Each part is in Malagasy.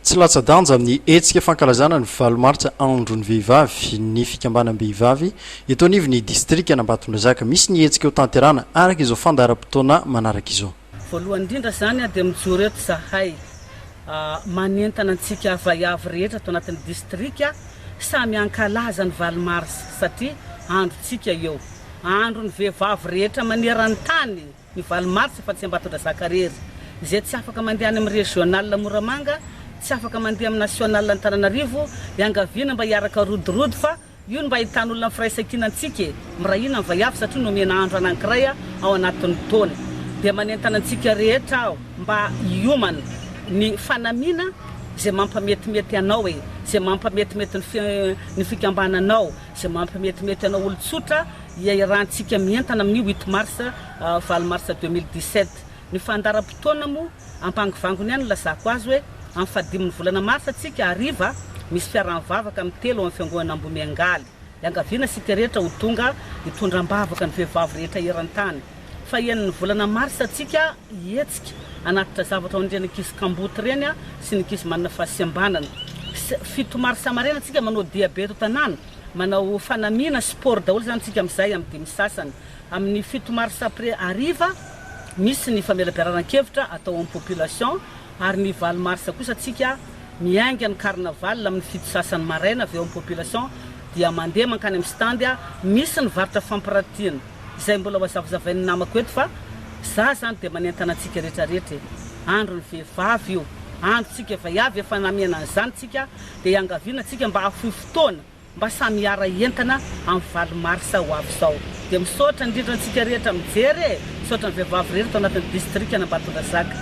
Tsy latsa-danja amin'ny hetsika fankalazana ny valo martsa Andron'ny vehivavy ny fikambanam-behivavy eto anivon'ny distrikan'Ambatondrazaka. Misy ny hetsika ho tanterahana araka izao fandaharam-potoana manaraka izao. Voalohany indrindra izany dia mijoro eto izahay manentana antsika vaiavy rehetra ato anatin'ny distrika samy hankalaza ny valo marsa satria androntsika io, andron'ny vehivavy rehetra maneran-tany. Ny valo martsa fa tsy Ambatondrazaka rery. Izay tsy afaka mandeha any amin'ny régional Moramanga, tsy afaka mandeha amin'ny national Antananarivo, iangaviana mba hiaraka rodirody fa io no mba ahitan'olona ny firaisankina antsika e! Miray hina ny vaiavy satria nomena andro anankiray ao anatin'ny taona. Dia manentana antsika rehetra aho mba hiomana ny fanamiana izay mampametimety anao e! Izay mampametimety ny fikambananao. Tsy mampimetimety anao olon-tsotra iairantsika mientana amin'ny huit mars, valo mars deux mille dix-sept. Ny fandaharam-potoana moa ampangivangony ihany nilazako azy hoe amin'ny fahadimin'ny volana marsa tsika hariva misy fiaraha-mivavaka amin'ny telo amin'ny fiangonana Ambohimiangaly. Iangaviana isika rehetra ho tonga hitondra am-bavaka ny vehivavy rehetra eran-tany. Fahen'ny volana marsa antsika hihetsika hanatitra zavatra ho an'ireny ankizy kamboty ireny sy ny ankizy manana fahasembanana. Fito marsa maraina antsika manao diabe eto tanàna, manao fanamiana, sport daholo izany antsika amin'izay amin'ny dimy sasany. Amin'ny fito marsa après hariva misy ny famelabearan-kevitra atao amin'ny population ary ny valo marsa kosa antsika miainga ny carnaval amin'ny fito sasany maraina avy eo amin'ny population dia mandeha mankany amin'ny stand misy ny varotra fampiratiana Izay mbola ho azavazavain'ny namako eto fa za zany dia manentana antsika rehetra rehetra e! Andron'ny vehivavy io, androntsika vaiavy efa namihana an'izany tsika dia iangaviana tsika mba hahafoy fotoana mba samy hiara hientana amin'ny valo mars ho avy izao. Dia misaotra indrindra antsika rehetra mijery e! Misaotra ny vehivavy rehetra tao anatin'ny distrikan'Ambatondrazaka.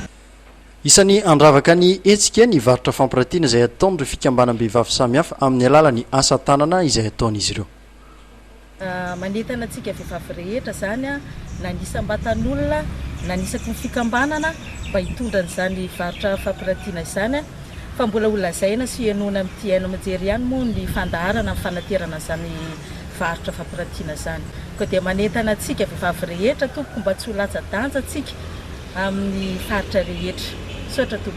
Isan'ny handravaka ny hetsika ny varotra fampiratiana izay ataon'ireo fikambanam-behivavy samihafa amin'ny alalan'ny asa tanana izay ataon'izy ireo. Manentana antsika vehivavy rehetra izany na ny isam-batan'olona na ny isaky ny fikambanana mba hitondra an'izany varotra fampirantiana izany fa mbola ho lazaina sy henoina amin'ity haino aman-jery ihany moa ny fandaharana amin'ny fanaterana an'izany varotra fampirantiana izany. Koa dia manentana antsika vehivavy rehetra tompoko mba tsy ho latsa-danja antsika amin'ny faritra rehetra. Misaotra tompoko.